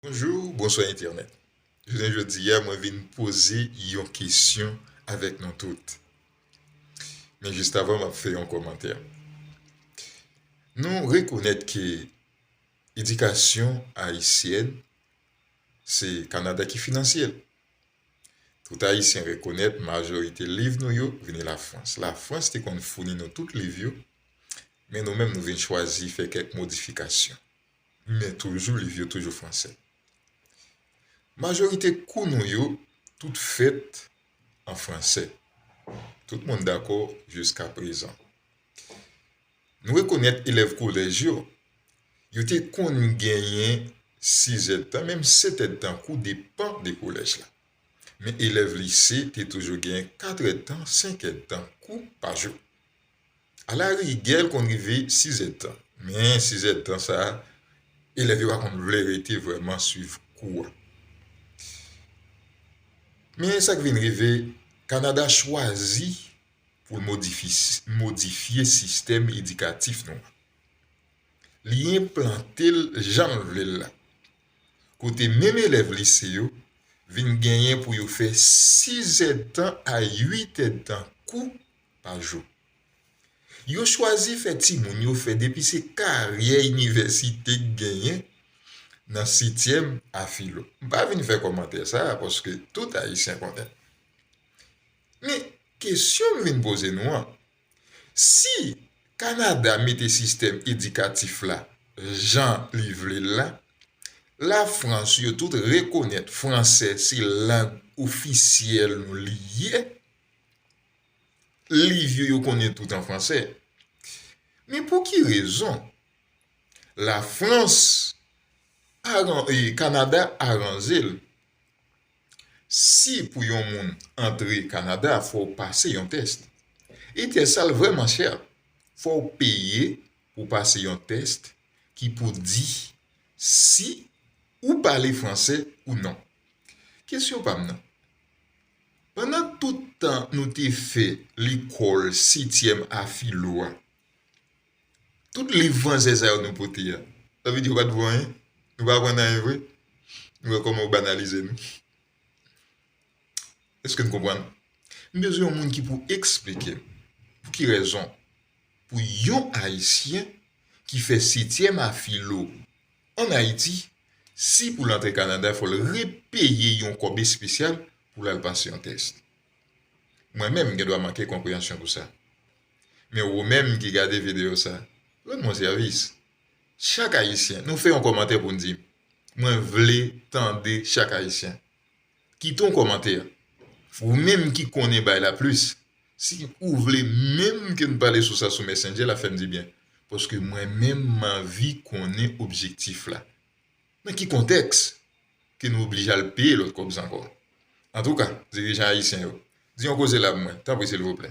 Bonjou, bonswa entènèt. Jounen jodi a mwen vin poze yon kesyon avèk nou tout. Men jistavan m ap fè yon kòmantè. Nou rekonèt ke edikasyon ayisyèn se Kanada ki finansye l. Tout ayisyen rekonèt majorite liv nou yo vini Lafrans. Lafrans te konn founi nou tout liv yo men nou menm nou vin chwazi fè kèk modifikasyon. Men toujou liv yo toujou fransè. Majorite kou nou yo tout fèt an fransè. Tout moun dakò jiska prezan. Nou rekonèt elèv kolèj yo, yo te konn genyen sizèdtan menm setèdtan kou depan de kolèj la. Men elèv lise te toujou genyen katrèdtan, senkèdtan kou pa jou. Alarigè l konn rive sizèdtan, men sizèdtan sa a elèv yo pa konn vle rete vrèman suiv kou a. Men sa k vin rive, Kanada chwazi pou l modifye sistèm edikatif nou an. Li enplante l jan l vle l la, kote menm elèv lise yo vin genyen pou yo fè sizèdtan a uitèdtan kou pa jou. Yo chwazi fè timoun yo fè depi se karyè inivèsite k genyen nan setyèm a filo. M pa vin fè kòmantè sa a paske tout Ayisyen konnen. Men, kesyon m vin poze nou an, si Kanada mete sistèm edikatif la jan li vle l la, Lafrans yo tout rekonèt franse se lang ofisyèl nou li ye, liv yo yo konnen tout an fransè. Men pou ki rezon Lafrans, Kanada aranje l si pou yon moun antre Kanada fò w pase yon tès. E tès sa l vrèman chè. Fò w peye pou w pase yon tès ki pou di si ou pale fransè ou non. Kesyon pa m nan. Pandan tout tan nou te fè lekòl setyèm a filo a, tout liv franse sa yo nou pote a, sa vle di yo pa t vo anyen? Nou pa aprann anyen vre? Nou wè kòman yo banalize nou? Èske n konprann? M bezwen yon moun ki pou esplike m pou ki rezon pou yon Ayisyen ki fè setyèm a filo An Ayiti, si pou l antre Kanada fò l repeye yon kòb espesyal pou l al pase yon tès. Mwen menm gen dwa manke konpreyansyon pou sa. Men wou menm ki gade videyo sa, rann mwen sèvis. Chak Ayisyen, nou fè yon kòmantè pou n di m. Mwen vle tande chak Ayisyen. Kite yon kòmantè ou menm ki konnen bay la plis si ou vle menm ke n pale sou sa sou messenger la fè m dibyen paske mwen menm m anvi konnen objektif la nan ki kontèks ke nou oblije al peye lòt kòb zankò antouka dirijan ayisyen yo di yon koze la pou mwen tanpri silvouplè.